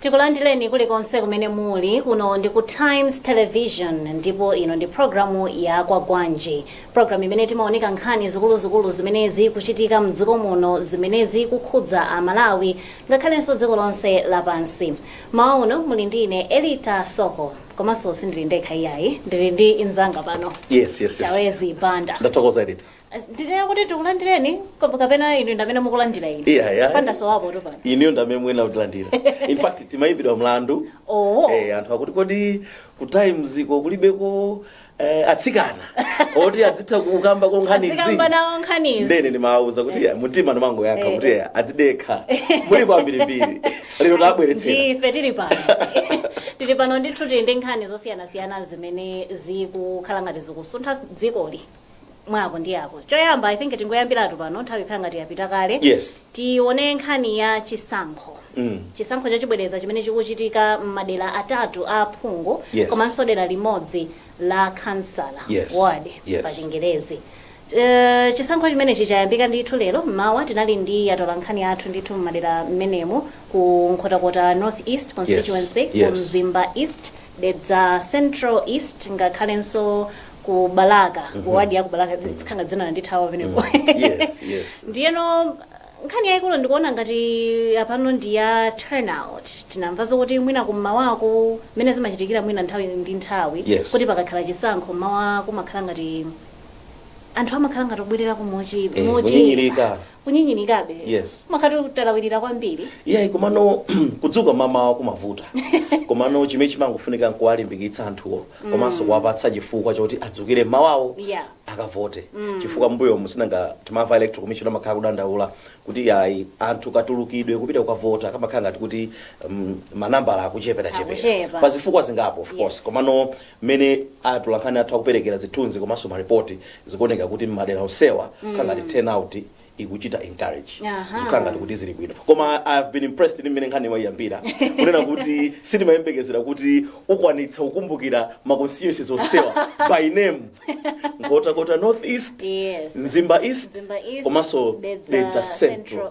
Tikulandireni kulikonse kumene muli. Kuno ndi ku Times Television ndipo ino ndi programu ya Kwagwanji, programu imene timaunika nkhani zikuluzikulu zimene zikuchitika m'dziko muno, zimene zikukhudza Amalawi ngakhalenso dziko lonse lapansi. M'mawa uno muli ndi ine Elita Soko, komanso sindili ndekha iyayi, ndili ndi anzanga pano Yes, yes, yes. Chawezi Banda. Ndathokoza Elita. ndinene kuti tikulandireni kap- kapena inu ndamene mukulandira ine Yeah, yeah. pandisowapotu pano inuyo ndamene mwina kutilandira in fact timayimbidwa mlandu oo eh, anthu akuti kodi ku times ko kulibeko eh, atsikana oti azitha kukambako nkhanizi azikamba nawo nkhanizi ndiye ndimawauza kuti yeah, mtima ndimangoyankha Eh, kuti eh. yeah, azidekha muli kwambirimbiri lero tabweretsera ndife tili pano tili pano ndithu tili ndi nkhani zosiyanasiyana zimene zikukhala ngati zikusuntha dzikoli mwako ndi yako choyamba i think tingoyambiratu pano nthawi ikhala ngati yapita kale Yes. tione nkhani ya chisankho Mm. chisankho chachibwereza chimene chikuchitika m'madera atatu a aphungu Yes. komanso dera limodzi la kansala Yes. ward Yes. pa chingerezi Eh, chisankho chimenechi chayambika ndithu lero mmawa tinali ndi atola nkhani athu ndithu m'madera mmenemu ku nkhotakota north east constituency Yes. ku mzimba east Dedza Central East ngakhalenso ku Balaka ku wadi ya ku Balaka dzi- kangadzina landithawa pamenepo yes yes ndiyeno nkhani yayikulu ndikuona ngati apano ndi ya turnout tinamva zokuti mwina kummawaku mmene zimachitikira mwina nthawi ndi nthawi Yes. kuti pakakhala chisankho mmawa kumakhala ngati anthu amakhala ngati obwererako mochi Eh, kunyinyirika. kunyinyirikabe Yes. umakhala utalawirira kwambiri iyayi komano kudzuka mamawa kumavuta komano chimene chimangofunika n'kuwalimbikitsa anthuwo komanso kuwapatsa chifukwa choti adzukire m'mawawo Yeah. akavote chifukwa m'mbuyomu si nanga timamva electoral commission amakhala akudandaula kuti yayi anthu katulukidwe kupita kukavota kamakhala ngati kuti um, manambala akuchepera Akuchepa. chepera pa zifukwa zingapo of course Yes. komano mmene atolankhani athu akuperekera zithunzi komanso maripoti zikuoneka kuti mmadera onsewa zikukhala ngati turnout ikuchita encourage Aha. zikukhala ngati kuti zili bwino koma i have been impressed ndi mmene nkhani waiyambira kunena kuti sindimayembekezera kuti ukwanitsa kukumbukira ma constituencies onsewa by name nkhotakota north east Yes. mzimba east Mzimba East, komanso Dedza dedza central Central.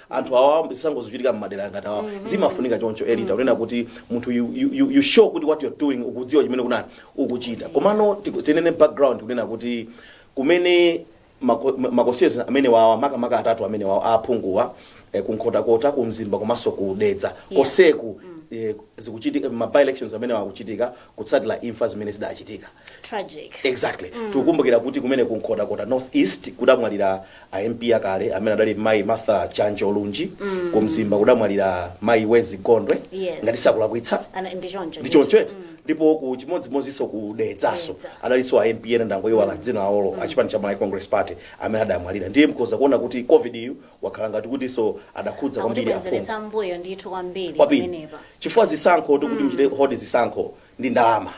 anthu awa zisankho zikuchitika mmadera ngati awa zimafunika choncho Elita kunena kuti munthu you, you, you, you show kuti what you're doing ukudziwa chimene kunani ukuchita komano tiku- tinene background kunena kuti kumene mako- ma- ma constituencies amene wawa makamaka atatu amene wawa aphunguwa eh, kunkhotakota kumzimba komanso kudedza koseku eh, zikuchitika ma by elections amenewa akuchitika kutsatira imfa zimene zidachitika Tragic. exactly tikukumbukira kuti kumene ku nkhotakota north east kudamwalira a mp akale amene adali mayi martha chanjo lunji ku mzimba kudamwalira mayi wezi gondwe Yes. ngati sindikulakwitsa Ana- ndi choncho. ndi choncho eti ndipo ku chimodzimodzinso ku dedzaso Dedza. adalinso a mp ena ndangoyiwala dzina lawo a chipani cha malawi congress party amene adamwalira ndiye mkhoza kuona kuti covid yu wakhala ngati kutinso adakhudza kwambiri aphungu Akutibwezeretsa m'mbuyo ndithu kwambiri kwambiri pamenepa. chifukwa zisankho kuti muchite hold zisankho ndi ndalama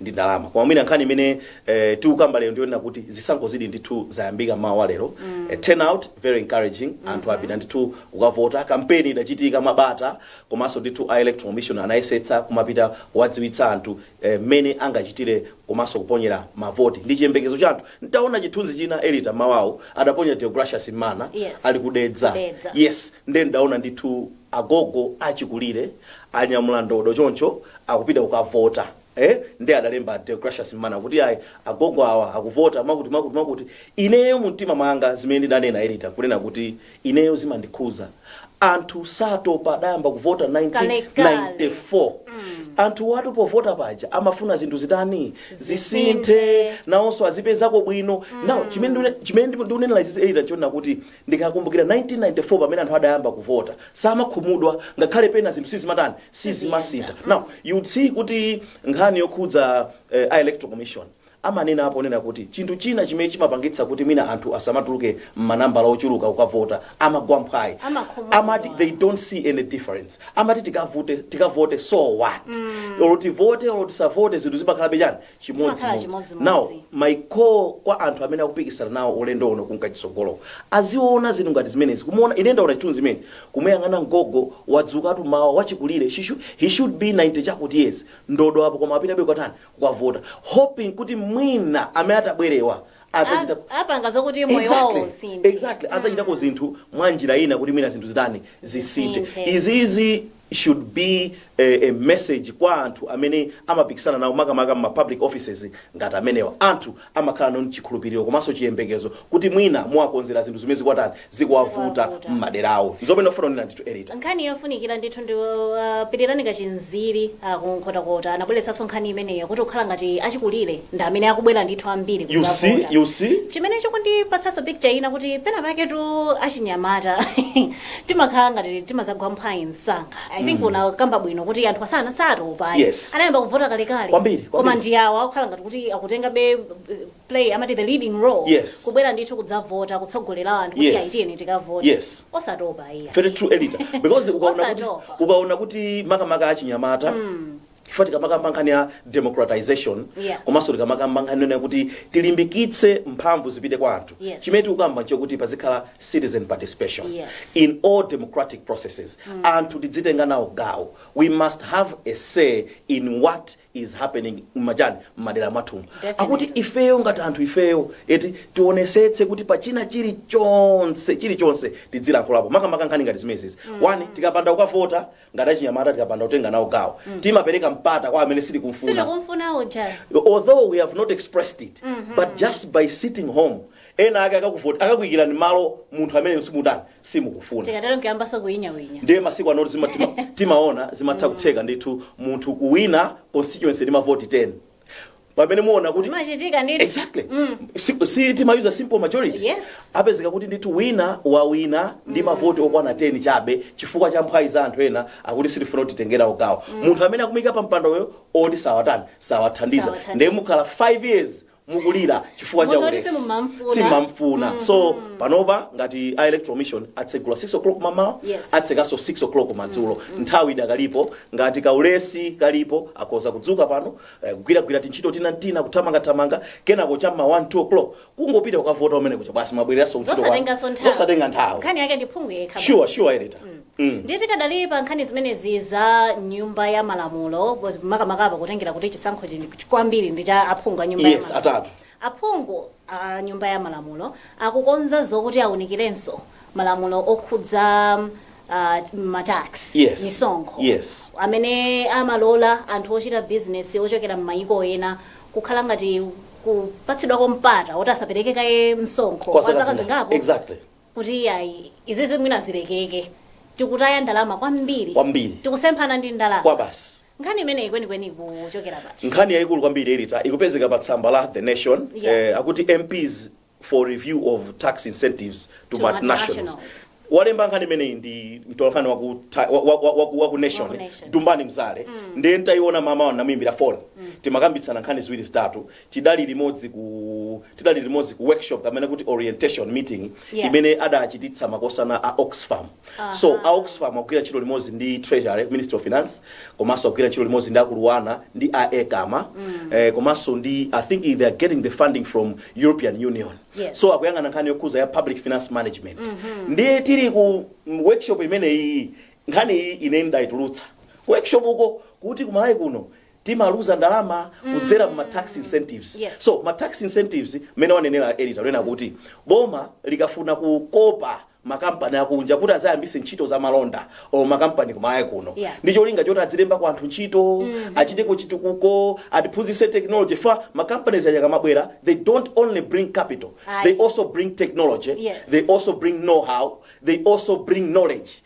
ndi ndalama koma mwina nkhani imene eh, tikukamba lero ndiyonena kuti zisankho zili ndithu zayambika mmawa wa lero eh, turnout very encouraging anthu apita ndithu kukavota kampeni idachitika mabata komanso ndithu a electoral commission anayesetsa kumapita kuwadziwitsa anthu mmene angachitire komanso kuponyera mavoti ndi chiyembekezo cha anthu ntawona chithunzi china Elita mmawawu adaponya Deogracious mmana Yes. ali ku Dedza Ku Dedza. yes nde ndawona ndithu agogo achikulire anyamula ndodo choncho akupita kukavota Eh? nde adalemba Deogracious mmana kuti ayi agogo awa akuvota mwakuti mwakuti mwakuti ineyo mumtima mwanga zimene ndidanena Elita kunena kuti Ineyo zimandikhudza. Anthu satopa adayamba kuvota Kalekale. 1994. Anthuwatu povota paja amafuna zinthu zitani? Zisinthe. Nawonso azipezako bwino. Now chimene ndikune- chimene ndipo ndikunenera izizi Elita nchonena kuti ndikakumbukira 1994 pamene anthu adayamba kuvota samakhumudwa ngakhale pena zinthu sizimatani? Sizimasintha. Now you would see kuti nkhani yokhudza eh, a electoral commission amanenapo ponena kuti chinthu china chimene chimapangitsa kuti mwina anthu asamatuluke m'manambala ochuluka kukavota, amagwa mphwayi. Amakhumudwa. Amati they don't see any difference. Amati tikavote, tikavote so what? Olo tivote, olo tisavote zinthu zimakhalabe chani? Zimakhala Chimodzimodzi. chimodzimodzi. Now, my call kwa anthu amene akupikisana nawo ulendo uno kunka chitsogolowu aziona zinthu ngati zimenezi kumuona ine ndaona chithunzi chimenechi kumuyang'ana mgogo wadzukatu mmawa wachikulire she should, he should be 90 chakuti years ndodo apo koma apitabe kukatani kukavota hoping kuti mwina amene atabwerewa adzachita A- apanga zokuti moyo Exactly. wawo usinthe Exactly. azachitako zinthu mwa njira ina kuti mwina zinthu zitani zisinthe Zisinthe. izizi should be a, a message kwa anthu amene amapikisana nawo makamaka m'ma public offices ngati amenewa anthu amakhala nacho chikhulupiliro komanso chiyembekezo kuti mwina muwakonzera zinthu zimene zikuwatani, zikuwavuta Zikuwavuta. m'madera awo. Nzomwe ndikufuna kunena ndithu Elita. Nkhani yofunikira ndithu ndi uh, Pilirani Kachinziri uh, ku Nkhotakota anabweretsanso nkhani imeneyo kuti kukhala ngati achikulire ndi amene akubwera ndithu ambiri You see, kudzavota. you see? chimene chikundipatsanso picture ina kuti penapaketu achinyamata timakhala ngati timazagwa mphwayi msanga i think unakamba bwino kuti anthu asana satopa ayi. Yes. anayamba kuvota kalekale Kwambiri, koma kwambiri. ndi awa akukhala ngati kuti akutengabe uh, play amati the leading role Yes. kubwera ndithu kudzavota kutsogolera anthu kuti Yes. ayi tiyeni tikavote Yes. osatopa eya very true Elita because ukaona kuti Osatopa. ukaona kuti makamaka achinyamata chifukwa tikamakamba nkhani ya democratization Yeah. komanso tikamakamba nkhani yonena kuti tilimbikitse mphamvu zipite kwa anthu Yes. chimene tikukamba nchakuti pazikhala citizen participation Yes. in all democratic processes anthu tidzitenga nawo gawo we must have a say in what is happening mmachani mmadera mwathumu Definitely. akuti ifeyo ngati anthu ifeyo eti tionesetse kuti pachina chilichonse chilichonse tidzilankhulapo makamaka nkhani ngati zimenezi one tikapanda kukavota ngati achinyamata tikapanda kutenga nawo gawo timapereka mpata kwa amene sitikumfuna sitikumfuna uja although we have not expressed it but just by sitting home ena ake akakavota akakuyikirani malo munthu amene simutani simukufuna tikatero nkuyambanso kunyinyirika ndiye masiku anoti zima- tima- timaona zimatha kutheka ndithu munthu kuwina constituency ndi mavoti 10 pamene muona kuti zimachitika ndithu exactly Si- si timayuza simple majority Yes. apezeka kuti ndithu wina wawina ndi mavoti okwana 10 chabe chifukwa cha mphwayi za anthu ena akuti sitifuna kuti titenge nawo gawo munthu amene akumuyika pa mpandoyo oti sawatani sawathandiza Sawathandiza. ndiye mukhala 5 years mukulira chifukwa cha Munthu oti ulesi simumamfuna. simamfuna so panopa ngati a electoral commission atsegula 6 o'clock mmamawa Yes. atsekanso 6 o'clock madzulo nthawi idakalipo Ngati kaulesi kalipo, akhoza kudzuka pano, eh, kugwiragwira tintchito tina n'tina, kuthamangathamanga, kenako cha m'ma 1, 2 o'clock kungopita kukavota kumene kuja basi mwabwereranso kuntchito kwanu. zosatenganso nthawi Zosatenga nthawi. nkhani yake ndi phungu yekha basi. Sure, sure editor. Mm. ndiye tikadali pa nkhani zimenezi za nyumba ya malamulo makamaka apa kutengera kuti chisankho chino kwambiri ndi cha aphungu a nyumba ya Yes, malamulo. atatu. Aphungu a Nyumba ya Malamulo akukonza zokuti awunikirenso malamulo okhudza ma tax, Yes. misonkho, Yes. amene amalola anthu ochita bizinesi ochokera m'mayiko ena kukhala ngati kupatsidwako mpata woti asapereke kaye msonkho kwa zaka zingapo Exactly. kuti iyayi izizi mwina zilekeke tikutaya ndalama kwambiri Kwambiri. tikusemphana ndi ndalama kwabasi nkhani imeneyi kwenikweni ikuchokera pati nkhani yayikulu kwambiri editor ikupezeka pa tsamba la the nation Yeah. eh, akuti mps for review of tax incentives to, To multinationals multinationals. walemba nkhani imeneyi ndi mtolankhani wa ku ta- wa- wa- wa- wa ku- wa ku nation Wa ku Nation. dumbani mzale ndiye ntayiona mmamawa ndamuyimbira foni timakambitsana nkhani ziwiri zitatu tidali limodzi ku tidali limodzi ku workshop kapena kuti orientation meeting Yeah. imene adachititsa makosana a oxfam so a oxfam akugwira ntchito limodzi ndi treasury ministry of finance komanso akugwira ntchito limodzi ndi aku LUANAR ndi a ECAMA eh, komanso ndi i think they are getting the funding from european union Yes. so akuyang'ana nkhani yokhudza ya public finance management ndiye tili ku mm, workshop imeneyi nkhani iyi ine ndayitulutsa workshop uko kuti ku Malawi kuno timaluza ndalama kudzera mma tax incentives. Yes. So ma tax incentives mmene wanenera editor kunena kuti boma likafuna kukopa makampani akunja kuti azayambise ntchito za malonda o makampani kumayiko kuno Yeah. ndi cholinga choti adzilembako anthu ntchito achiteko chitukuko atiphunzise technology chifukwa ma companies aja akamabwera they don't only bring capital Aye. they also bring technology Yes. they also bring know how they also bring knowledge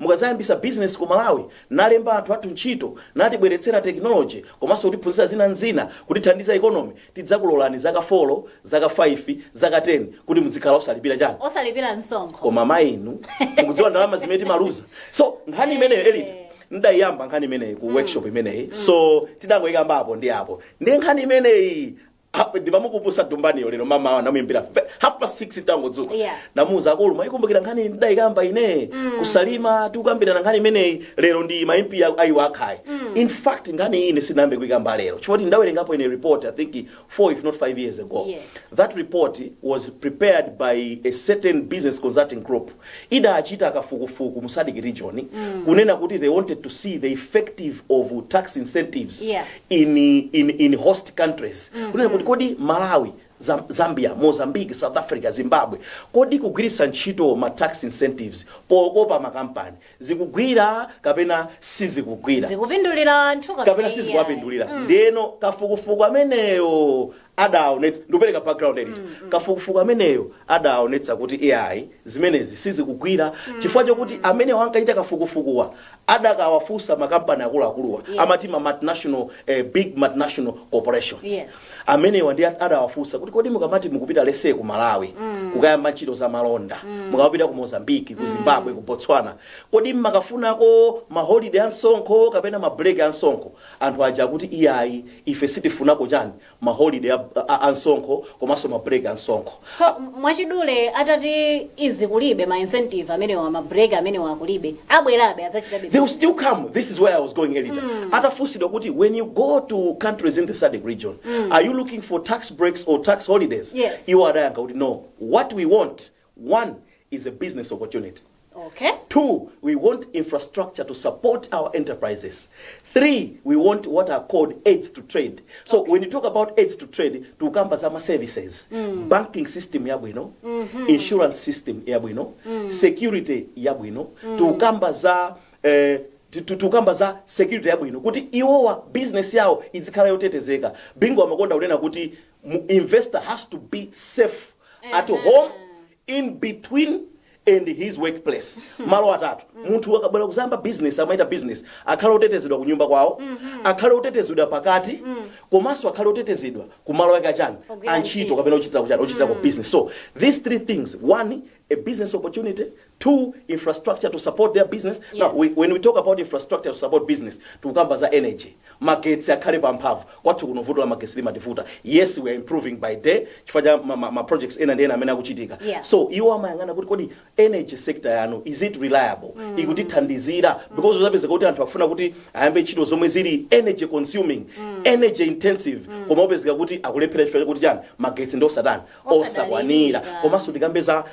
Mukazayambisa business ku Malawi nalemba anthu athu ntchito natibweretsera technology komanso kutiphunzitsa zina ndi zina kutithandiza economy tidzakulolani zaka four, zaka five, zaka ten kuti mudzikhala osalipira chani? Osalipira msonkho. Koma mmene inu mukudziwa ndalama zimene timaluza? So nkhani imeneyo editor Eeh. ndidayiyamba nkhani imeneyi ku workshop imeneyi so tidangoyikambapo ndi apo. Ndiye nkhani imeneyi Apa ndimamukumbutsa Dumbaniyo lero mmamawa ndamuyimbira fe- half past 6 tangodzuka Yeah. ndamuuza akulu mwayikumbukira nkhani ndidayikamba ine ku Salima tikukambirana nkhani imeneyi lero ndi ma MP ya- ayi okay in fact nkhani iyi ine sindinayambe kuyikamba lero chifukwa ndawerengapo ine report i think 4 if not 5 years ago Yes. that report was prepared by a certain business consulting group idachita kafukufuku mu sadc region kunena kuti they wanted to see the effective of tax incentives Yeah. in, in, in host countries mm -hmm. kunena kuti kodi malawi Zam- zambia mozambique south africa zimbabwe kodi kugwiritsa ntchito ma tax incentives pokopa makampani zikugwira kapena sizikugwira zikupindulira anthu kapena sizikuwapindulira ndeno kafukufuku ameneyo adaonetsa ndikupereka background editor kafukufuku ameneyo adaonetsa kuti iyayi zimenezi sizikugwira chifukwa chokuti amenewa ankachita kafukufukuwa adakawafunsa makampani akuluakuluwa Yes. amati ma multinational eh, big multinational corporations Yes. amenewa ndiye adawafunsa kuti kodi mukamati mukupita let's say ku malawi kukayamba ntchito za malonda mukamapita ku mozambiki ku zimbabwe ku botswana kodi mmakafunako maholiday a msonkho kapena mabreak a msonkho anthu aja akuti iyayi ife sitifunako chani ma holiday a, a, a msonkho komanso ma break a msonkho so m- mwachidule atati izi kulibe ma incentive amenewa ma break amenewa kulibe abwerabe adzachitabe they will still come this is where i was going editor atafunsidwa kuti when you go to countries in the sadc region are you looking for tax breaks or tax holidays Yes. iwo adayankha kuti no what we want One is a business opportunity. Okay. Two, we want infrastructure to support our enterprises. Three, we want what are called aids to trade. So when you talk about aids to trade, tukamba zama services, banking system ya bwino, insurance system ya bwino, security ya bwino, tukamba za eh, tu- tu- tukamba za security ya bwino kuti iwowa business yawo izikhala yotetezeka bingo amakonda kunena kuti mu- investor has to be safe at home in between and his workplace malo atatu munthu akabwera kuzayamba business amachita business akhale otetezedwa ku nyumba kwawo akhale otetezedwa pakati komanso akhale otetezedwa ku malo ake achani Ogwira ntchito. kapena ochitira kuchani ochitira ku business so these three things one a business opportunity 2 infrastructure to support their business yes. now we, when we talk about infrastructure to support business tikukamba za energy magetsi akhale pa mphamvu kwathu kuno vuto la magetsi limativuta yes we are improving by day chifukwa cha ma, ma, ma projects ena ndi ena amene akuchitika Yeah. so iwo amayang'ana kuti kodi energy sector yanu is it reliable mm. ikutithandizira because udzapeza kuti anthu afuna kuti ayambe ntchito zomwe zili energy consuming mm. energy intensive mm. koma upezeka kuti akulephera chifukwa chakuti chani magetsi ndi osatani osakwanira komanso tikambe za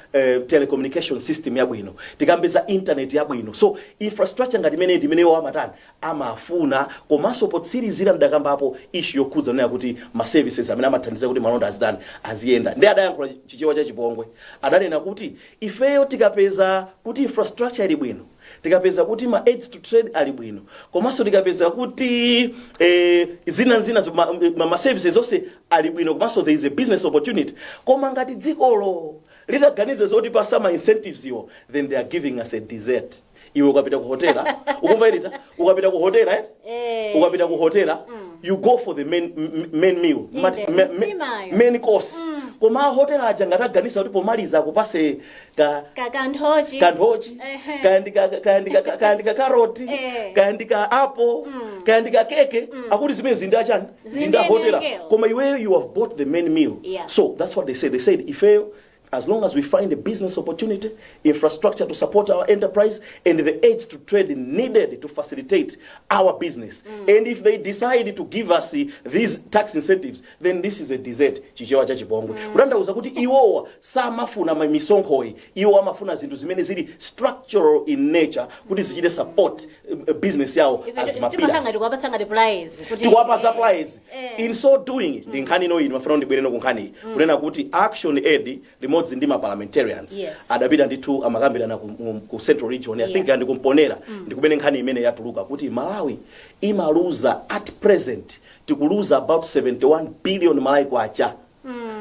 telecommunication system yabwino tikambe za internet yabwino so infrastructure ngati imeneyo ndi imene iwo amatani amafuna komanso potsirizira ndidakambapo issue yokhudza kunena kuti ma services amene amathandiza kuti malonda azitani aziyenda ndiye adayankhula chichewa cha chipongwe adanena kuti ifeyo tikapeza kuti infrastructure ili bwino tikapeza kuti ma aids to trade ali bwino komanso tikapeza kuti eh, zina nzina zo- ma, ma, ma services zonse ali bwino komanso there is a business opportunity koma ngati dzikolo litaganize zotipatsa ma incentives iwo then they are giving us a dessert iwe ukapita ku hotela ukumva irita ukapita ku hotela eh? Eh. ukapita ku hotela you go for the main, m- main meal Inde, Amati- me- me- nsimayo. main course koma hotela aja ngati ataganiza kuti pomaliza akupatse ka Ka- kanthochi kanthochi Ehe. kaya ndi ka- kaya ndi ka- ka- kaya ndi ka karoti Eh. kaya ndi ka apple Mm. kaya ndi ka keke akuti zimene zinda chani Zinde zinda hotela ndiye imeneyo. koma iweyo you have bought the main meal Yeah. so that's what they said they said ifeyo as long as we find a business opportunity infrastructure to support our enterprise and the aids to trade needed to facilitate our business and if they decide to give us eh, these tax incentives then this is a dessert chichewa cha chipongwe kutanthauza kuti iwowa samafuna ma- misonkhoyi iwowa amafuna zinthu zimene zili structural in nature kuti zichite support eh, eh, business yawo as timanga mapilas tikuwapatsa ngati players kuti tiwapatsa supplies Eh. in so doing ndi nkhani ino ndimafuna ndibwereno kunkhani kunena kuti action aid limodzi ndi ma parliamentarians Yes. adapita ndithu amakambirana ku, mu- ku central region i think Yeah. ndi kumponera ndi kumene nkhani imene yatuluka kuti malawi imaluza at present tikuluza about 71 billion malawi kwacha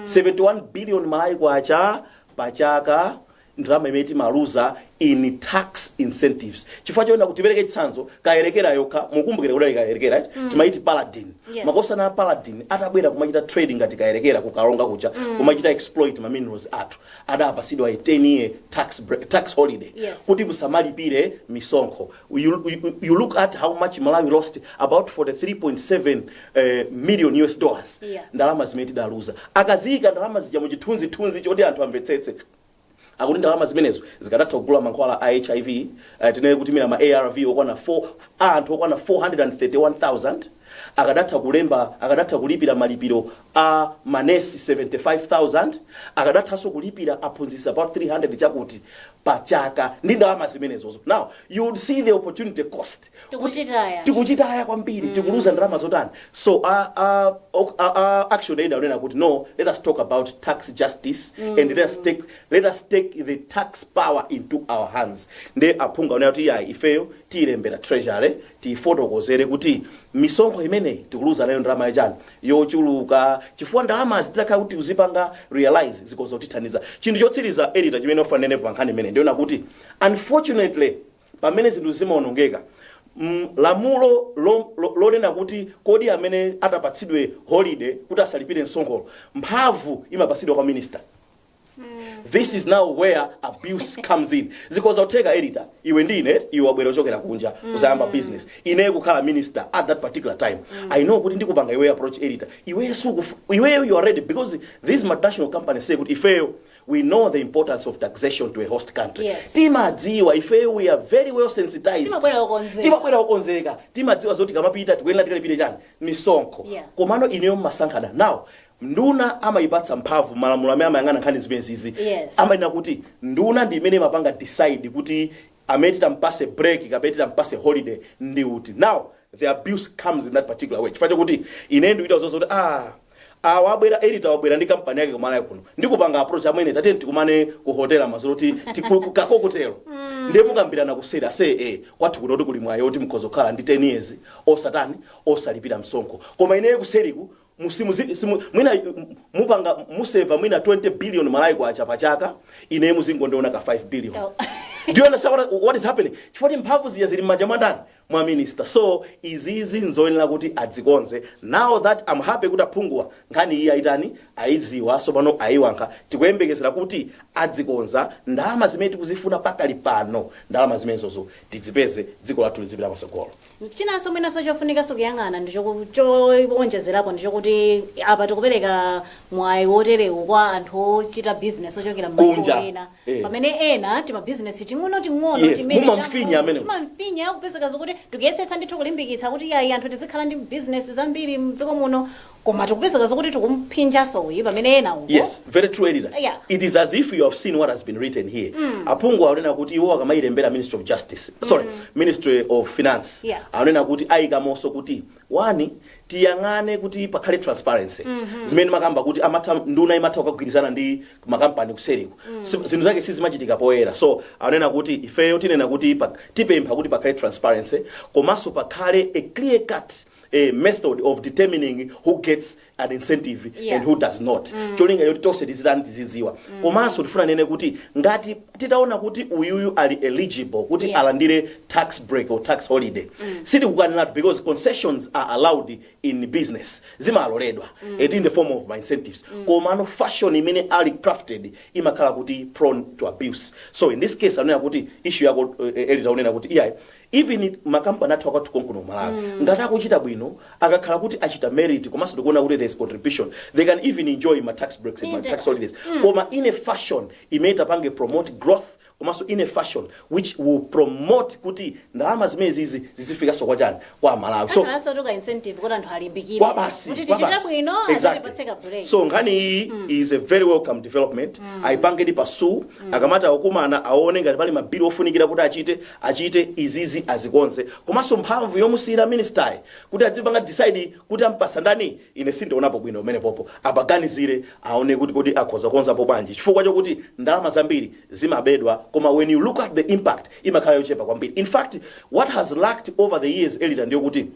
71 billion malawi kwacha pa chaka ndalama imene timaluza in tax incentives chifukwa chonena kuti tipereke chitsanzo kayerekera yokha mukumbukire kuti ali kayerekera eti? timaiti paladin Yes. makosana a paladin atabwera kumachita trade ngati kayerekera ku Karonga kuja kumachita exploit ma minerals athu adapatsidwa a 10 year tax, break, tax holiday Yes. kuti musamalipire misonkho you, you, you look at how much malawi lost about 43.7 uh, million us dollars Yeah. ndalama zimene tidaluza akaziika ndalama zija mu chithunzithunzi choti anthu amvetsetse akuti ndalama zimenezo zikadatha kugula mankhwala a hiv uh, tinene kuti kaya ma arv okwana 4 a anthu okwana 431000 akadatha kulemba akadatha kulipira malipiro a manesi 75,000, akadathanso kulipira aphunzitsi about 300 chakuti pa chaka ndi ndalama zimenezo. Now, you would see the opportunity cost. Tikuchitaya. Tikuchitaya kwambiri, tikuluza ndalama zotani. So, a, a, ok- a, a Action Aid akunena kuti no, let us talk about tax justice and let us take, let us take the tax power into our hands. Nde aphungu akunena kuti yayi ifeyo tiyilembera treasury, tiyifotokozere kuti misonkho imeneyi tikuluza nayo ndalama yachani. yochuluka chifukwa ndalamazi titakhala kuti tikuzipanga realise zikhozotithandiza. Chinthu chotsiriza, editor, chimene ndikufuna ndinenepo pa nkhani imeneyi ndichonena kuti unfortunately pamene zinthu zimaonongeka, mm, lamulo lo, lo, lonena kuti kodi amene atapatsidwe holiday kuti asalipire msonkho, mphamvu imapatsidwa kwa minister. this is now where abuse comes in zikhoza kutheka editor iwe ndi ine iwe wabwera kuchokera kunja uzayambe business ine kukhala minister at that particular time i know kuti ndikupanga iwe approach editor iwe sukufu iweyo you are ready because these multinational companies say kuti ifeyo we know the importance of taxation to a host country Yes. timadziwa ifeyo we are very well sensitized Timabwera okonzeka. timabwera okonzeka timadziwa zoti tikamapita tikuyenera tikalipire chani misonkho Yeah. komano ineyo amasankhana now Nduna amayipatsa mphamvu malamulo amene amayang'ana nkhani zimenezizi Yes. amanena kuti nduna ndi imene imapanga decide kuti amene timpatse break kapena timpatse holiday ndi uti now the abuse comes in that particular way chifukwa chakuti ine ndikuita zokuti ah awa abwera editor wabwera ndi kampani yake ku Malawi kuno ndikupanga approach amwene tatiyeni tikumane ku hotel madzulo kuti tikukako kutero ndiye mukambirana kuseri ase e kwathu kuno kuti kuli mwayi oti mukhoza kukhala ndi 10 years osatani osalipira msonkho koma ineyo kuseriku mu simu zi- simu mwina y- m- mupanga m- museva mwina 20 billion malawi kwacha pa chaka ineyo muzingondionako ka 5 billion Oh. do you understand what, what is happening chifukwa kuti mphamvu zija zili m'manja mwa ndani mwa minister so izizi nzoyenera kuti adzikonze now that am happy kuti aphunguwa nkhani iyi ayitani ayidziwa sopano ayiyankhula tikuyembekezera kuti adzikonza ndalama zimene tikuzifuna pakali pano ndalama zimenezozo tidzipeze dziko lathu lizipita patsogolo Chinanso mwinanso chofunikanso kuyang'ana ndi chowonjezerapo ndi chokuti apa tikupereka mwayi woterewu kwa anthu ochita business ochokera m'mayiko ena pamene ena timabusiness ting'onoting'ono timene tang'ono timamfinya kupezeka zokuti tikuyesetsa ndithu kulimbikitsa kuti iyayi anthu tizikhala ndi business zambiri m'dziko muno koma tikupezeka zokuti tikumuphinjanso uyu pamene ena uko yes very true editor Yeah. it is as if you have seen what has been written here aphungu akunena kuti iwo akamayilembera ministry of justice sorry ministry of finance Yeah. akunena kuti ayikamonso kuti wani tiyang'ane kuti pakhale transparency zimene mmakamba kuti amatha nduna imatha kukagwirizana ndi makampani kuseriko Si- zinthu zake sizimachitika poyera so akunena kuti ifeyo tinena kuti pa- tipempha kuti pakhale transparency komanso pakhale a clear cut a method of determining who gets an incentive Yeah. and who does not mm. cholinga choti tonse tizitani tiziziwa mm. komanso tifuna tinene kuti ngati titaona kuti uyuyu ali eligible kuti Yeah. alandire tax break or tax holiday mm. sitikukaniratu because concessions are allowed in business zimaloledwa mm. it in the form of ma incentives mm. komano fashion imene ali crafted imakhala kuti prone to abuse so in this case anena kuti issue yako uh, editor unena kuti iyayi even ma company athu akwathu konkuno ku Malawi ngati akuchita bwino akakhala kuti achita merit komanso tikuona kuti there is contribution they can even enjoy ma tax breaks and ma Inde. tax holidays koma in a fashion imene itapange promote growth komanso in a fashion which will promote kuti ndalama zimenezizi zizifikanso kwa chani kwa amalawi so Akhalanso toti ka incentive kuti anthu alimbikire. kwa basi Kuti kwa tichita basi. bwino Exactly. azatipatse ka break. so nkhani iyi is a very welcome development ayipange ndi pass akamati akukumana aone ngati pali mabili ofunikira kuti achite achite izizi azikonze komanso mphamvu yomusiyira minister yi kuti adzipanga decide kuti ampasa ndani ine sindionapo bwino pamenepopo apaganizire aone kuti kodi akhoza kukonzapo bwanji chifukwa chokuti ndalama zambiri zimabedwa koma when you look at the impact imakhala yochepa kwambiri infact what has lacked over the years editor ndiyokuti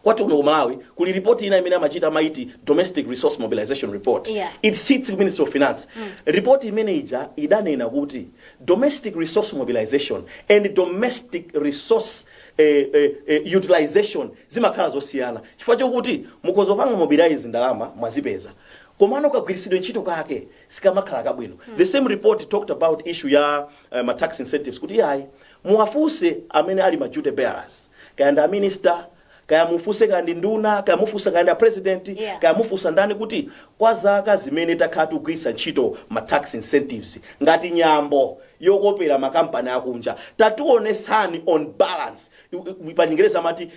kwathu kuno ku malawi kuli ripoti ina imene amachita amayiti domestic resource mobilization report Yeah. it sits ku ministry of finance ripoti imene ija idanena kuti domestic resource mobilization and domestic resource eh, eh, eh, utilization zimakhala zosiyana chifukwa chokuti mukhoza kupanga mobilize ndalama mwazipeza komano kagwiritsidwe ntchito kake sikamakhala kabwino the same report talked about issue ya uh, ma tax incentives kuti yayi Muwafunse amene ali ma duty bearers, kaya ndi a minister, kaya mufunse kaya ndi nduna, kaya mufunse kaya ndi a president, Yeah. kaya mufunsa ndani kuti kwa zaka zimene takhala tikugwiritsa ntchito ma tax incentives ngati nyambo yokopera ma kampani akunja, tatiwonetsani on balance, i- i- pachingerezi amati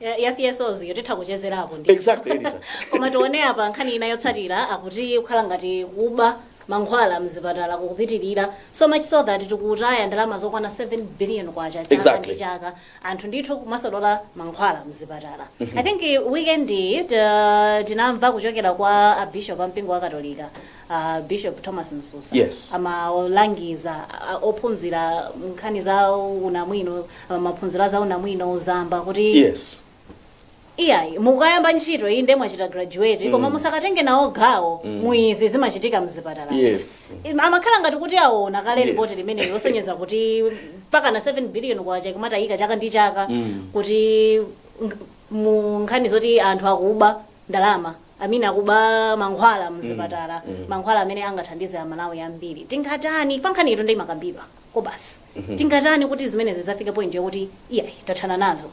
ya, ya CSOs yo titha kuchezerapo ndi. Exactly, editor. Koma tione apa nkhani ina yotsatira akuti kukhala ngati kuba mankhwala mzipatala kukupitirira so much so that tikutaya ndalama zokwana 7 billion kwacha chaka Exactly. ndi chaka anthu ndithu kumasolola mankhwala mzipatala i think eh, weekend iyi, ta- tinamva kuchokera kwa abishop a mpingo wa katolika a Bishop Thomas Msusa Yes. amalangiza a- ophunzira nkhani za unamwino a, maphunziro a za unamwino uzamba kuti yes iyayi mukayamba ntchito iyi nde mwachita graduate koma musakatenge nawo gawo mu izi zimachitika mzipatala Yes. amakhala ngati kuti aona kale Yes. ripoti limeneli losonyeza kuti mpakana 7 billion kwacha kumatayika chaka ndi chaka kuti ng- mu nkhani zoti anthu akuba ndalama I mean akuba mankhwala mzipatala mankhwala amene angathandize amalawi ambiri tingatani pankhani iyi, nde imakambidwako basi tingatani kuti zimenezi zidzafike point yokuti iyayi tathana nazo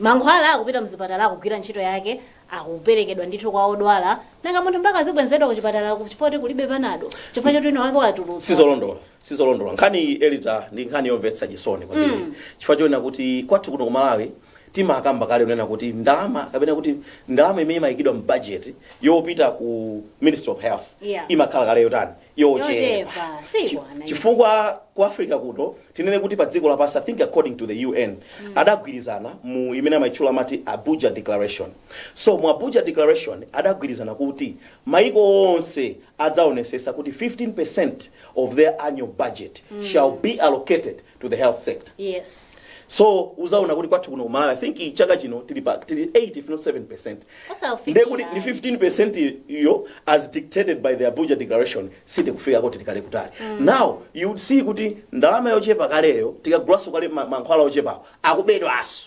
mankhwala akupita mzipatala akugwira ntchito yake akuperekedwa ndithu kwa odwala nanga munthu mpaka azibwenzedwa kuchipatala chifukwa choti kulibe panado chifukwa choti wina wake watulutsa sizolondola sizolondola nkhani iyi elita ndi nkhani yomvetsa chisoni kwambiri chifukwa choona kuti kwathu kuno ku malawi Timakamba kale kunena kuti ndalama kapena kuti ndalama imene imayikidwa mu budget yopita ku Ministry of Health Yeah. imakhala kale yotani yochepa Yochepa, chifukwa ku Africa kuno tinene kuti pa dziko lapansi I think according to the UN adagwirizana mu imene amayitchula amati Abuja Declaration so mu Abuja Declaration adagwirizana kuti maiko onse adzaonesesa kuti 15% of their annual budget shall be allocated to the health sector yes so uzaona kuti kwathu kuno kumalawi i think chaka chino tili pa tili 8 if not 7 percent Osawufikira. ndiye kuti ndi 15 percent iyo as dictated by the abuja declaration sitikufikako tili kale kutali now you would see kuti ndalama yochepa kaleyo tikagulaso kale ma- mankhwala ochepawo akubedwaso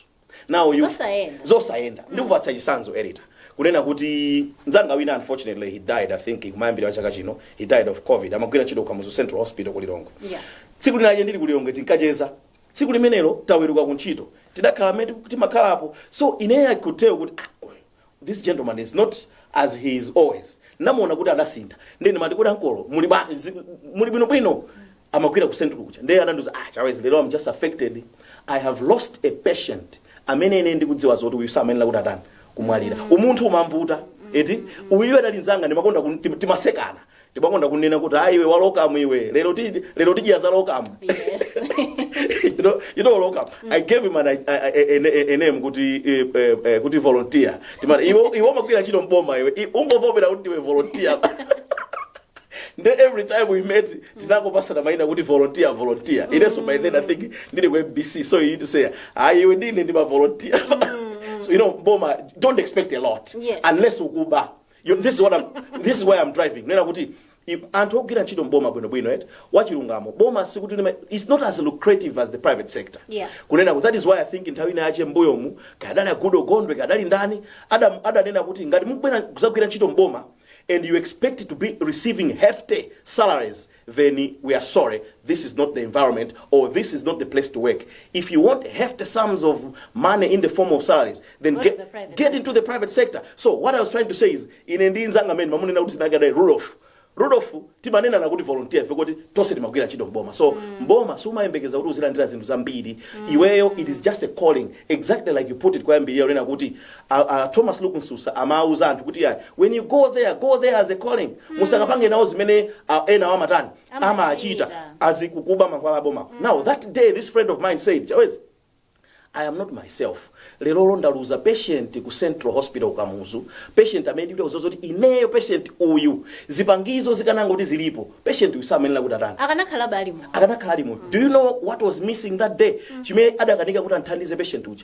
now you Zosayenda. zosayenda ndikupatsa chisanzo elita kunena kuti nzanga wina unfortunately he died i think kumayambiriro kwa chaka chino he died of covid amagwira ntchito kukamuzu central hospital ku lilongwe Yeah. tsiku linache ndili ku lilongwe tinkacheza tsiku limenelo taweruka ku ntchito tidakhala mmene timakhalapo so ineyo i could tell kuti ah, uyu This gentleman is not as he is always namuona kuti adasintha nde ndimati kuti ankolo muli bwa- zi- muli bwinobwino amagwira ku central kuja nde anandiuza ah chawezi lero am just affected i have lost a patient amene ine ndikudziwa zoti uyu samayenera kuti atani kumwalira umunthu umamvuta eti uyu adali nzanga ndimakonda kun- tim- timasekana ndimakonda kunena kuti ayi iwe walokamu iwe lero ti- lero tidya za lokamu yes you know, you know local. I gave him an, a, a, a, a name kuti eh, eh, eh, kuti volunteer. Timati iwe umagwira ntchito mboma iwe. I- Ungovomera kuti iwe volunteer. Nde every time we met tinkangopasana maina kuti volunteer volunteer. Ineso by then I think ndili ku MBC so you need to say ah iwe ndine ndi ma volunteer. so you know mboma don't expect a lot Yes. unless ukuba. You- this is what I'm, this is where I'm driving nena kuti ife anthu ogwira ntchito mboma bwinobwino et wachilungamo boma sikuti lima- it's not as lucrative as the private sector Yeah. kunena kuti that is why i think nthawi ina yache mbuyomu kadali a Goodall Gondwe kadali ndani Adam- adanena kuti ngati mukubwera kuzagwira ntchito mboma and you expect to be receiving hefty salaries then we are sorry this is not the environment or this is not the place to work if you want hefty sums of money in the form of salaries then Go to get, the private get into the private sector so what i was trying to say is ine ndi nzanga amene ndimamunena kuti sinagadaye rudolf rudolf timanena nakuti volunteer ife kuti tonse timagwira ntchito mboma so mboma sumayembekeza kuti uzilandira zinthu zambiri iweyo it is just a calling exactly like you put it koyambirira kunena kuti A a Thomas Luke Msusa amauza anthu kuti iyayi when you go there go there as a calling musakapange nawo zimene a- enawo amatani Amachita. amachita azikukuba mankhwala aboma now that day this friend of mine said chawezi I am not myself. Lero ndaluza patient ku Central Hospital ku Kamuzu. Patient amene ndikudziwa kuti ineyo patient uyu zipangizo zikanangoti zilipo. Patient uyu samayenera kuti atani. akanakhala ali moyo Akanakhala ali moyo. Do you know what was missing that day? Chimene adakanika kuti amuthandize patient uja.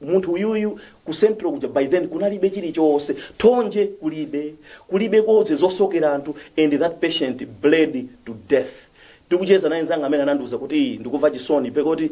munthu uyuyu ku central kuja by then kunalibe chilichonse thonje kulibe kulibe gauze zosokera anthu and that patient bled to death tikucheza naye nzanga amene anandiuza kuti ndikumva chisoni pekuti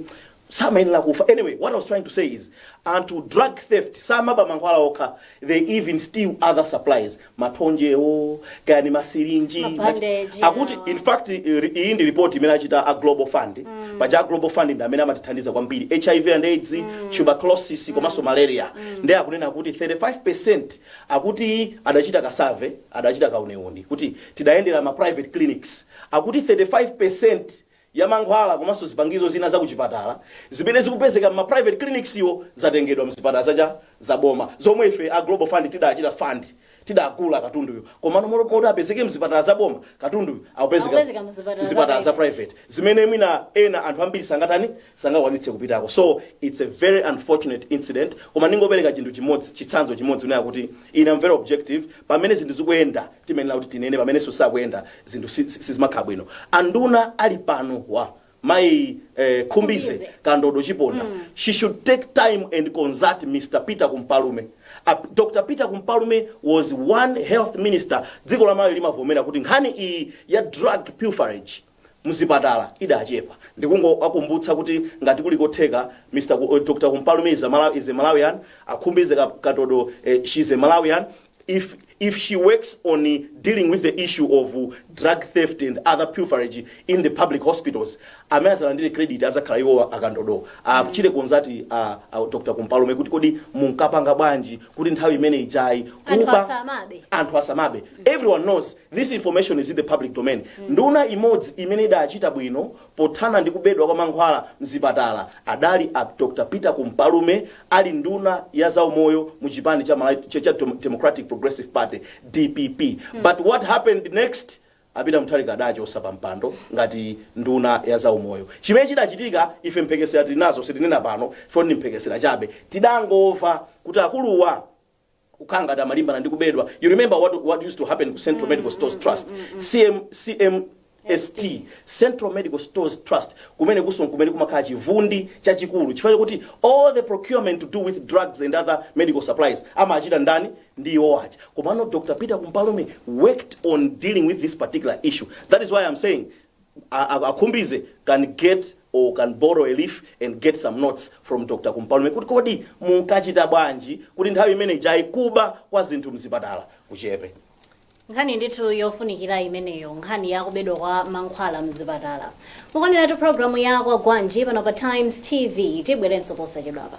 samayenera kufa anyway what i was trying to say is anthu drug theft samaba mankhwala okha they even steal other supplies mathonjewo kaya ni masirinji Ma bandage, akuti awa. in fact iri- mu report imene anachita a global fund paja a global fund ndi amene amatithandiza kwambiri hiv and aids tuberculosis komanso malaria ndiye akunena kuti 35 percent akuti adachita ka survey adachita kauniuni kuti tidayendera ma private clinics akuti 35 percent ya mankhwala komanso zipangizo zina za kuchipatala zimene zikupezeka mma private clinics-wo zatengedwa mzipatala za cha za boma zomwe ife a Global Fund tidachita fund, tidagula katunduyo komano mot moti apezeke mzipatala za boma, katunduyo akupezeka Akupezeka mzipatala za mzipatala za private. private zimene mwina ena anthu ambiri sangatani sangakwanitse kupitako so it's a very unfortunate incident koma ndingopereka chinthu chimodzi chitsanzo chimodzi kunena kuti ine am very objective Pamene zinthu zikuyenda timayenera kuti tinene pamenenso sizikuyenda zinthu sizimakhala bwino. Anduna ali panowa mayi Khumbize, Kandodo, Chiponda she should take time and consult Mr Peter Kumpalume. Dr Peter Kumpalume was one health minister dziko la Malawi limavomera kuti nkhani iyi ya drug pilferage, mzipatala idachepa ndikungoakumbutsa kuti ngati kuli kotheka Mr Ku- eh, Dr Kumpalume is a Malawi is a Malawian akhumbize ka- Kandodo eh, she is a Malawian if if she works on eh, dealing with the issue of eh, drug theft and other pilferage in the public hospitals amene azalandire credit azakhala iwo akandodo achite consult a, a Dr Kumpalume kuti kodi munkapanga bwanji kuti nthawi imene ijayi Anthu kuba- asamabe. anthu asamabe everyone knows This information is in the public domain. Nduna imodzi imene idachita bwino pothana ndi kubedwa kwa mankhwala mzipatala adali a Dr Peter Kumpalume ali nduna ya zaumoyo mu chipani cha Malawi cha cha Dem- Democratic Progressive Party DPP. But what happened next? A Peter Mutharika adawachotsa pa mpando ngati nduna ya zaumoyo. Chimene chidachitika ife mphekesera tili nazo sitinena pano poti ndi mphekesera chabe. Tidangomva kuti akuluwa kukhala ngati amalimbana ndi kubedwa you remember what, what used to happen ku central medical stores trust CM, cmst central medical stores trust kumene kunso kumene kumakhala chivundi chachikulu chifukwa chakuti all the procurement to do with drugs and other medical supplies amachita ndani ndi iwo aja komano dr peter kumpalume worked on dealing with this particular issue that is why i'm saying a a a Khumbize can get or can borrow a leaf and get some notes from Dr. Kumpalume kuti kodi munkachita bwanji kuti nthawi imene ijayi kuba kwa zinthu mzipatala kuchepe. nkhani ndithu yofunikira imeneyo nkhani ya kubedwa kwa mankhwala mzipatala mukuoneratu programu ya kwagwanji pano pa times tv tibwerenso posachedwapa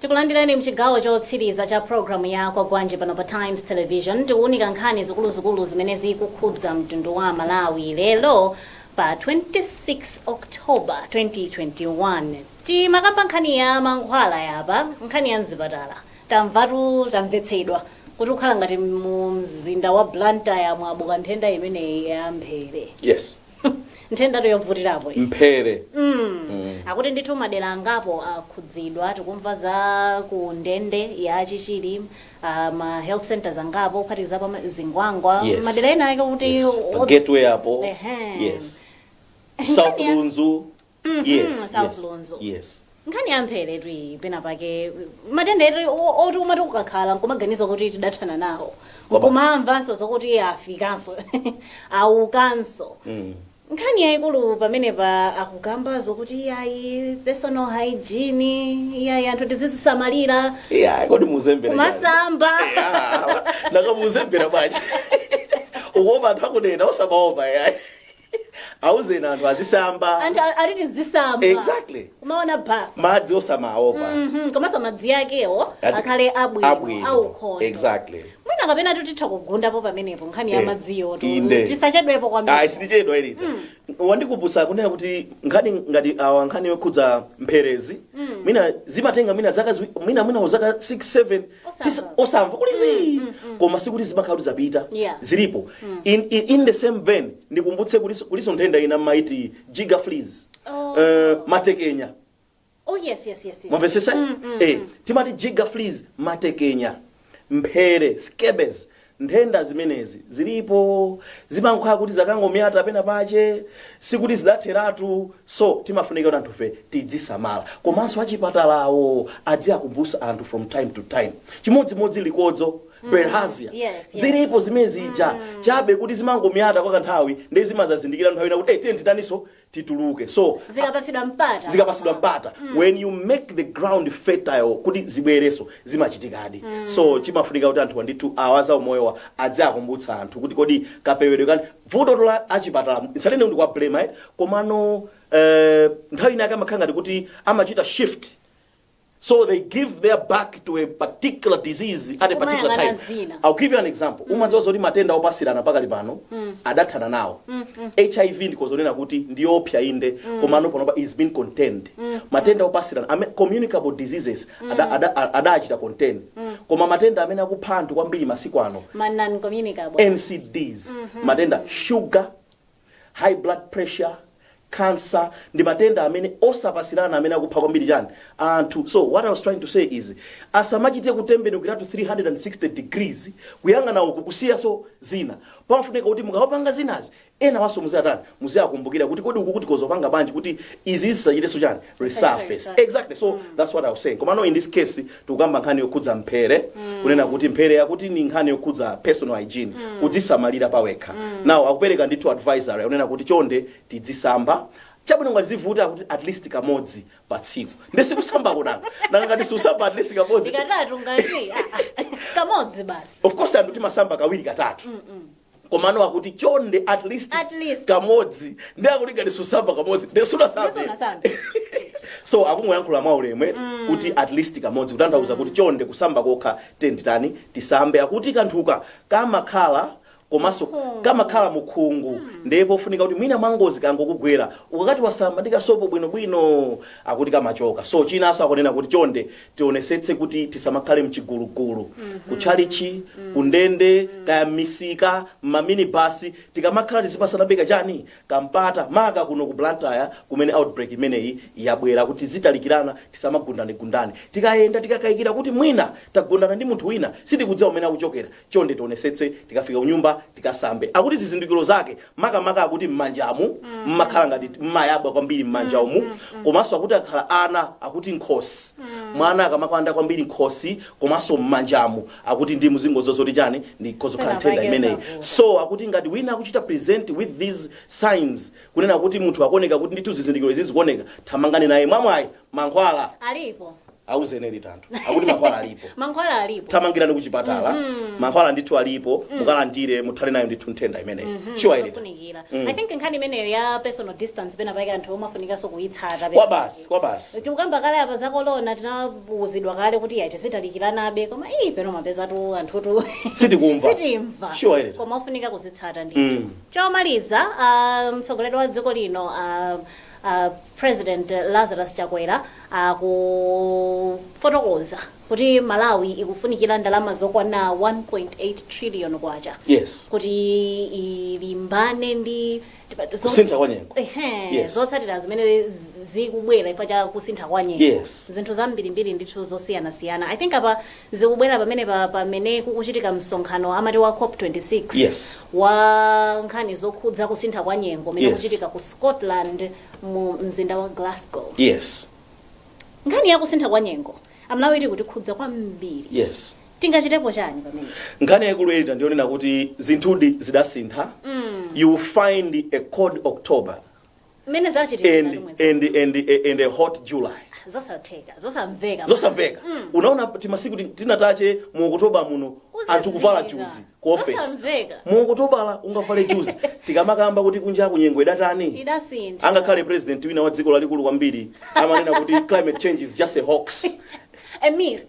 Tikulandireni mchigawo chotsiriza cha program ya Kwagwanji pano pa Times Television. Tikuwunika nkhani zikuluzikulu zimene zikukhudza mtundu wa aMalawi lero pa 26 October 2021. Timakamba nkhani ya mankhwalaya apa, nkhani ya mzipatala. Tamvatu, tamvetsedwa kuti kukhala ngati mu mzinda wa Blantyre mwabuka nthenda imeneyi ya mphere. Yes. nthendatu yovutirapo iyi. mphere akuti ndithu madera angapo akhudzidwa tikumva za ku ndende ya chichiri uh, ma health centers angapo kuphatikiza pa zingwangwa Yes. madera ena ake kuti Yes. pa gateway apo Ehe. yes south lunzu Mhm, yes yes South Lunzu. yes nkhani ya mpheretu iyi pena pake matenda eti o- oti umati ukakhala nkumaganiza kuti tidathana nawo Kwa basi. nkumamvanso zokuti afikanso abukanso Mm. nkhani yayikulu pamenepa akukamba zokuti iyayi personal hygiene iyayi anthu tizizisamalira yeah kodi mukuzembera kumasamba naka mukuzembera bwanji ukuopa anthu akunena usamaopa yayi auzeni anthu azisamba anthu a- azitani azisamba Exactly. umaona bath madzi osamaopa Mhm, komanso madzi akewo Azi- akhale abwino abwino. aukhondo exactly mwina kapena tutitha kugundapo pamenepo nkhani ya Eh, madziyo tu- inde. tisachedwepo ayi kwambiri sindichedwa iyi ita wandikumbutsa kunena kuti nkhani ngati awa nkhani yokhudza mpherezi mwina zimatenga mwina zaka ziwi- mwina mwina zaka 6 7 Tisi- Osamva. osamva kuti zii koma sikuti zimakhala kuti zapita Yeah. zilipo in, in, in the same vein ndikumbutse kulinso kulinso nthenda ina amaiti jigger fleas Oh. Eh, matekenya Oh, yes, yes, yes, yes. mwamvetsetsa eh, timati jigger fleas matekenya mphere scabies Nthenda zimenezi zilipo zimangokhala kuti zakangomyata pena pache sikuti zidatheratu so zimafunika kuti anthufe tidzisamala komanso achipatalawo adziwakumbutsa anthu from time to time chimodzimodzi likodzo, Bilharzia, yes, yes. zilipo zimene zija chabe kuti zimangomyata kwa kanthawi nde zimazadzidzimukira nthawi ina kuti eh tiyeni titaninso tituluke so zikapatsidwa mpata zikapatsidwa mpata mm. when you make the ground fertile kuti zibwerenso zimachitikadi mm. so chimafunika kuti anthu ndithu awa azaumoyowa adziakumbutsa anthu kuti kodi kapewedwe kake ndi vuto lathu la achipatala nsanene ndikuwa blame ayi komano eh, nthawi inake amakhala ngati kuti amachita shift So they give their back to a particular disease at a particular Kumayang'ana time. zina. I'll give you an example. Umadziwa zoti matenda opatsirana pakali pano adathana nawo. HIV ndikhoza kunena kuti ndiyopsa inde komano panopa it's been contained. Matenda opatsirana ame- communicable diseases ada- ada- a- adachita contain. Koma matenda amene akupha anthu kwambiri masiku ano ma non communicable NCDs matenda sugar High blood pressure, cancer ndi matenda amene osapatsirana amene akupha kwambiri chani anthu so what I was trying to say is asamachite kutembenukiratu 360 degrees kuyang'ana uku kusiyanso zina pamafunika kuti mukamapanga zinazi enawanso muziatani muziakumbukira kuti kodi ukuku tikhoza kupanga bwanji kuti izi zisachitenso chani resurface exactly so that's what I was saying komano in this case tikukamba nkhani yokhudza mphere kunena kuti mphere akuti ndi nkhani yokhudza personal hygiene kudzisamalira pawekha now akupereka ndithu advisory akunena kuti chonde tidzisamba chabwino ngati zavuta kuti at least kamodzi pa tsiku nde sikusamba kunanga nanga ngati siusamba at least kamodzi ikatatu ngati ah, ah, kamodzi basi of course anthu timasamba kawiri katatu komano akuti chonde at least, At least. kamodzi nde akuti ngati siusamba kamodzi nde sunasambe Sunasambe. so akungoyankhula mwaulemu kuti at least kamodzi kutanthauza kuti chonde kusamba kokha titani tisambe akuti kanthuka kamakhala komanso Mukhungu. kamakhala mukhungu ndiye pofunika kuti mwina mwangozi kangokugwera ukakati wasamba ndi kasopo bwinobwino akuti kamachoka so chinanso akunena kuti chonde tionesetse kuti tisamakhale mchigulugulu kutchalichi kundende kaya mmisika mmaminibasi tikamakhala tizipatsanabe kachani kampata maka kuno ku Blantyre kumene outbreak imeneyi yabwera kuti tizitalikirana tisamagundanegundane tikayenda tikakayikira kuti mwina tagundana ndi munthu wina sitikudziwa kumene akuchokera chonde tionesetse tikafika kunyumba tikasambe akuti zizindikiro zake makamaka akuti mmanjamu mmakhala ngati mmayabwa kwambiri mmanja umu komanso akuti akakhala ana akuti mkhosi mwana akamakanda kwambiri mkhosi komanso mmanjamu akuti ndi mudziwe zoti chani ikhoza kukhala Pena nthenda pake imeneyi zavuta. so akuti ngati wina akuchita present with these signs kunena kuti munthu akuoneka kuti ndithu zizindikiro izi zikuoneka thamangani naye mwamwayi mankhwala alipo auzeni elita anthu akuti mankhwala alipo mankhwala alipo thamangirani kuchipatala Mhm. mankhwala ndithu alipo Mm. mukalandire muthane nayo ndithu nthenda imeneyi Mhm, sure elita zofunikira. Mm. i think nkhani imeneyo ya personal distance pena paika anthu omwe afunikanso kuyitsata kwabasi kwabasi tikukamba kale apa za kolona tinauzidwa kale kuti yayi tizitalikiranabe koma iyi peno mapezatu anthutu Sitikumva. sitimva Sure, Elita. koma ofunika kuzitsata ndithu Mm. chomaliza ah, mtsogoleri wa dziko lino ah, a president Lazarus Chakwera akufotokoza kuti Malawi ikufunikira ndalama zokwana 1.8 trillion kwacha Yes. kuti ilimbane ndi zo- Kusintha kwa nyengo. Ehe, Yes. zotsatira zimene zi- zikubwera chifukwa cha kusintha kwa nyengo Yes. zinthu zambirimbiri ndithu zosiyanasiyana i think apa Zikubwera pamenepa pamene kukuchitika msonkhano amati wa cop 26 Yes. wa nkhani zokhudza kusintha kwa nyengo umene Yes. ukuchitika ku Scotland mu mzinda wa Glasgow. Yes. Nkhani ya kusintha kwa nyengo Amalawi iri kutikhudza kwambiri. Yes. Tingachitepo chani pamene? Nkhani yaikulu Elita ndi yonena kuti zinthudi zidasintha. You will find a cold October. mmene zachitika and mkati mwezi and uno. and a- and a hot july zosatheka zosamveka zosamveka unaona timasiku ti- tingapo mu okotobala muno Kuzizira. anthu kuvala juzi ku office Zosamveka. mu okotobala ungavale juzi tikamakamba kuti kunja kunyengo idatani idasintha angakhale president wina wa dziko lalikulu kwambiri amanena kuti climate change is just a hoax A myth.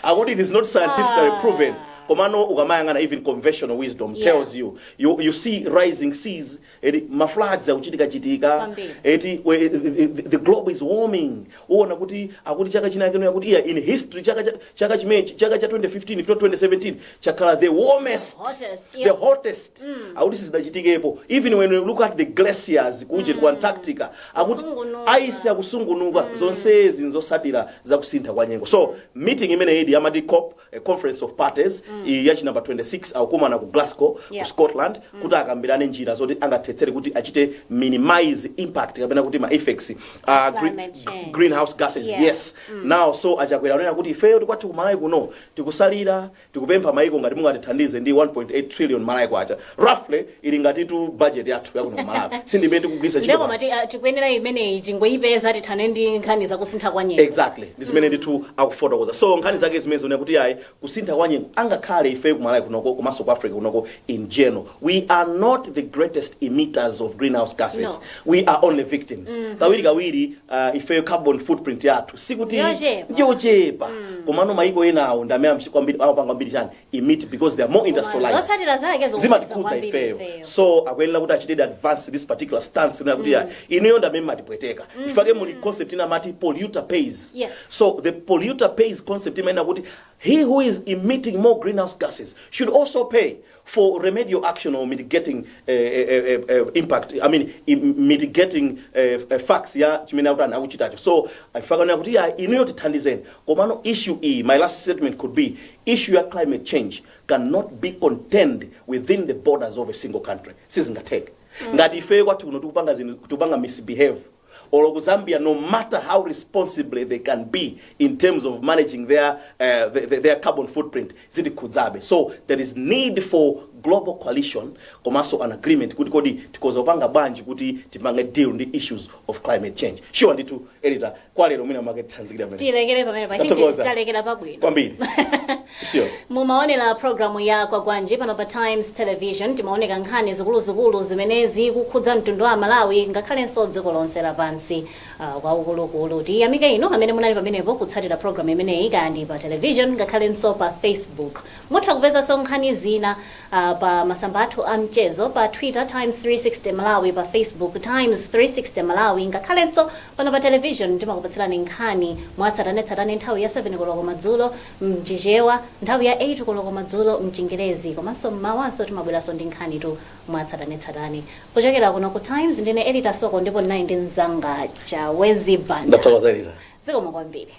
akuti it is not scientifically Ah. proven komano ukamayang'ana even conventional wisdom Yeah. tells you, you you see rising seas eti mafloods akuchitikachitika Kwambiri. eti we- the, the, the globe is warming uona kuti akuti chaka chinachake yakuti iya in history chaka cha- chaka chimechi chaka cha 2015 if not 2017 chakhala the warmest Hottest, the yeah. hottest akuti sizidachitikepo even when you look at the glaciers kuje ku antarctica akuti Kusungunuka. aisi akusungunuka zonsezi nzotsatira za kusintha kwa nyengo so meeting imeneyidi amati cop a conference of parties iyi yachi number 26 akukumana ku glasgow Yeah. ku scotland kuti akambirane njira zoti angathetsere kuti achite minimize impact kapena kuti ma effects a green, Climate change. greenhouse gases Yeah. yes now so a Chakwera anena kuti ifeyo ti kwathu ku Malawi kuno tikutsalira Tikupempha maiko ngati mungatithandize ndi 1.8 trillion Malawi kwacha roughly ili ngatitu budget yathu yakuno ku Malawi si ndi imene tikugwiritsa ntchito Nde koma pano. ti- ah, tikuyenera imeneyi tingoyipeza tithane ndi nkhani zakusintha kwa nyengo exactly ndi zimene ndithu akufotokoza so nkhani zake zimenezo zonena kuti ayi kusintha kwa nyengo angakhale ife ku Malawi kunoko komanso ku Africa kunoko in general we are not the greatest emitters of greenhouse gases No. we are only victims kawiri kawiri uh, ifeyo carbon footprint yathu sikuti Yochepa. ndiyochepa komano maiko enawo ndi amene amchi- kwambiri- amapanga kwambiri chani emit because they are more industrialized zotsatira zake zikukhudza zimatikhudza kwambiri ifeyo ifeyo. so akuyenera kuti achitedi advance this particular stance kunena kuti ya inuyo ndi amene matipweteka nchifukwa chake muli concept ina amati polluter pays Yes. so the polluter pays concept imayenera kuti He who is emitting more greenhouse gases should also pay for remedial action or mitigating eh, eh, eh, eh, eh, impact I mean i- mitigating eh, eh, effects ya chimene akutani akuchitacho so ifika kunena kuti ya inuyo tithandizeni komano issue iyi my last statement could be issue ya climate change cannot be contained within the borders of a single country sizingatheke ngati ifeyo kwathu kuno tikupanga zinthu tikupanga misbehave olo ku zambia no matter how responsible they can be in terms of managing their, uh, the- the- their carbon footprint zitikhudzabe so there is need for global coalition komanso an agreement kuti kodi tikhoza kupanga bwanji kuti tipange deal ndi issues of climate change sure ndithu elita kwalero mwina mwake titsanzikire pamene tilekere pamene pa Tathokoza. talekera pabwino kwambiri Sure. mumaonera programu ya kwagwanji pano pa times television timaunika nkhani zikuluzikulu zimene zikukhudza mtundu wa amalawi ngakhalenso dziko lonse lapansi uh, kwakukulu tiyamike inu amene munali pamenepo kutsatira programu imeneyi kaya ndi pa television ngakhalenso pa facebook mutha kupezanso nkhani zina uh, pa masamba athu a mchezo pa twitter times 360 malawi pa facebook times 360 malawi ngakhalenso pano pa television timakupatsirani nkhani mwatsatanetsatane nthawi ya 7 koloko madzulo m'Chichewa nthawi ya 8 koloko madzulo m'Chingerezi komanso m'mawanso timabweranso ndi nkhanitu mwatsatanetsatane. Kuchokera kuno ku Times ndine Elita Soko ndipo ndinali ndi mnzanga Chawezi Banda. Ndathokoza Elita. Zikomo kwambiri.